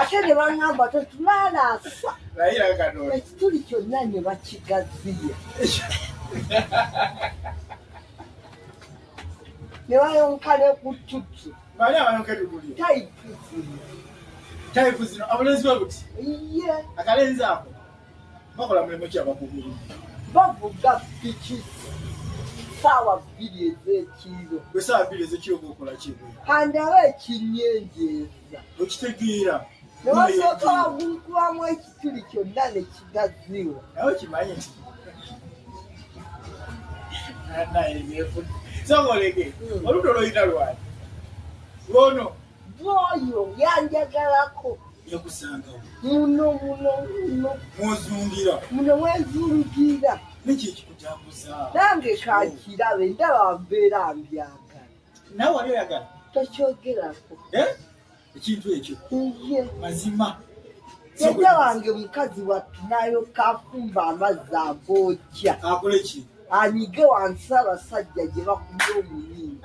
ate ne baŋŋamba tetulalaasa ekituli kyonna ne bakigaziya ne bayonka ne ku tutu tayipu zino abulenzi bwe buti akalenzi ako bakola mulimu ki abakugulu bavuga piki saawa bbiri ez'ekiro gwe saawa bbiri ez'ekiro gwekola kibwe kandaba ekinyenjeeza okitegeera newasooka wagulukulamu ekituli kyonna ne kigaziwa nawe kimanyi nti naye byefuna songolege hmm. oludda olwoyina lwani lwono Bwoyo yanjagalako yakusangawo muno muno muno mwozungira muno mwezungira niki ekikutambuza nange kakirabe ndaba mbeera mbyagala nawe wali oyagala tokyogerako eh? ekintu ekyo ye mazima jajja wange mukazi wattu nayo kafumba amazzi agookya akole ki anyige wansi abasajja gye bakumya omunyiingi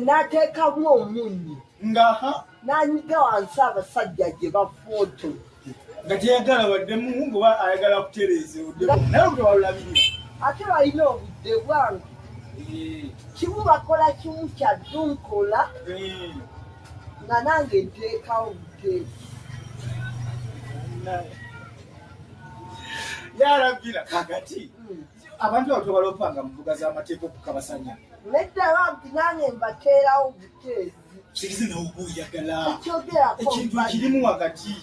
nateekamu eh? eh, omunyi ngaha nanyiga wansi abasajja gye bafooto nga teyagala baddemu ngoba ayagala kutereeza naye olutewalulabirira ate balina obudde bwange eh. kimu bakola kimu kya dunkola nga nange nteekawo buteesi yarabbira kakati hmm. abantu abo tobala okupanga mu mbuga z'amateeka okukabasanya nedda bampi nange mbateerawo buteezi kirize nawe oba oyagala ekintu kirimu wakati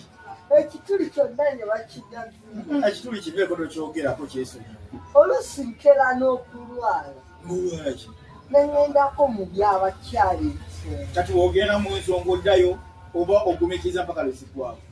ekituli kyonna ne bakigazi hmm, ekituli kibeeko tokyogerako kyesonyi oluusi nkera n'okulwala mulwalaki nengendako mu byabakyali kati wogenda mu nsonga oddayo oba ogumikiriza mpaka lweziggwawo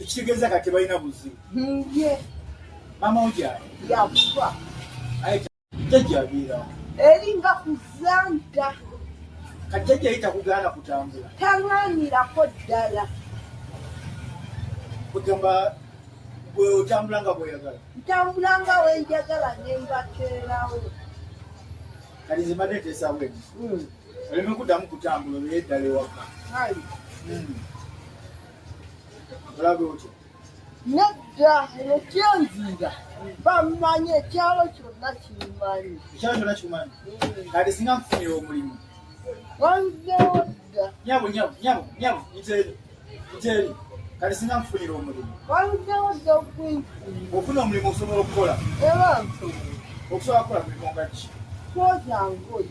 ekitegeeza kati balina buzibu hmm, mama ojaa yakufa jajjabeerawo eringa kuzanta kajjajja ye takugaana kutambula talwanirako ddala kugamba gwe otambula nga bweyagala ntambula nga wenjagala nembateerawo kati nze mbadde nteesawo eni hmm. oleme kuddamu kutambula obeere ddala ewaka hmm. olabe otya nedda eno kyenziira bamanyi ekyalo kyonna kimanyi ekyalo kyonna kimanyi mm. kati singa nkufunira omulimu wanzewo dda nyabo nyabo nyabo nyabo nteeri nteeri kati singa nkufunira omulimu wanzewo dda okunfuna ofuna omulimu osobola okukola era nsobola okusobola kukola mulimu nga ki kwoza ngoyi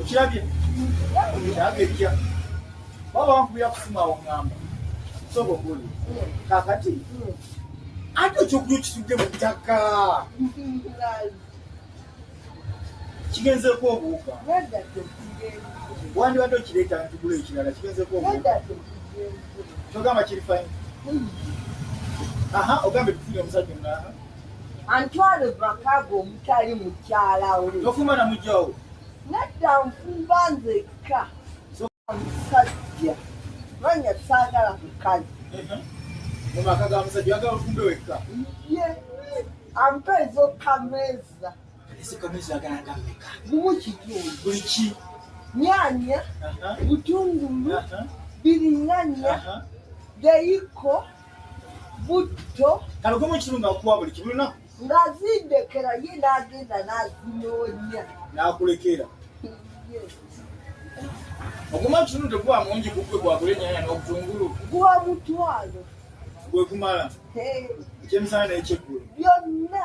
okirabye okirabye ekya baba bankubira kusimu awo ngamba soba oguli kakati ate ekyokuja okisudde mu ttaka kigenzeko obuuka wandibadde okireeta ntugula ekirala kigenzeko obuuka kyogamba kiri fayini aha ogambye tufunye omusajja omulala antwale makago omutali mukyalawo tofuma na mujawo nedda nfumba nzekka omusajja manya saagala kukazi mumaka ga musajja agala ofumbe wekka ye ampa ezokameza ezokameza agala gameka mumu kitundu buli ki nyanya butungulu biringanya geyiko butto kano gumu kimu nga kuwa buli kimu lunaku ng'azindekera ye n'agenda n'azinoonya n'akulekera oguma kinu teguwa mungi gugwe gwagula enyanya n'obutungulu guwa mutwalo gwe gumala ekyemisana n'ekyeggulo byonna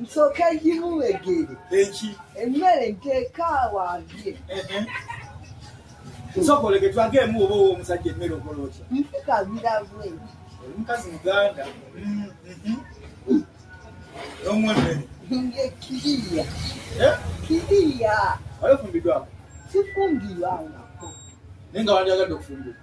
nsooka gimuwegere eki emmere nteeka awabye nsooka olege twage emu oba owa omusajja emmere okola otya mpikabira bwe omukazi muganda omwemmere nge kiriya kiriya oyo fumbidwako sifumbirwangako naye nga wandyagadde okufumbirwa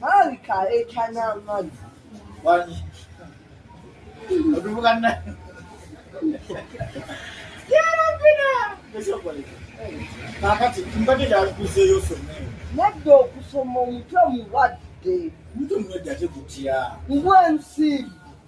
Malika ekana mali. Wani. Odubuka na. Yara bina. Kesho kwa lika. Kakati, mbaki da kuze yoso. Nadda okusoma omutwe mulwadde. Mtu mmoja aje kutia. Mbwa msimu.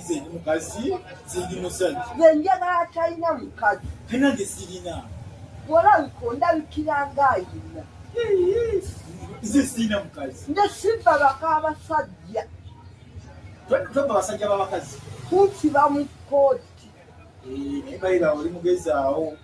nze ndi mukazi sindi musajja nze njagala atalina mukazi te nange sirina bwolabika ondabikira ngaayina nze sirina mukazi nze simba baka abasajja twebba abasajja babakazi kunsiba mu kkooti eh, naye bayira oli mugezaawo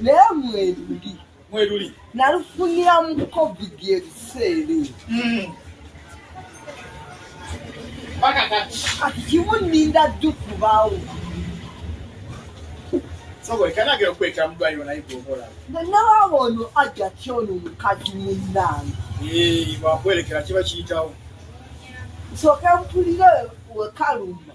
naye mweruli mweruli nalufunira mu covid ebiseera hmm. kati kimu ninda ddu kubaawo nawaaba ono ajja kyono omukazi munnange eh, wakwerekera kiba kiyitawo nsooke mpulire wekalumba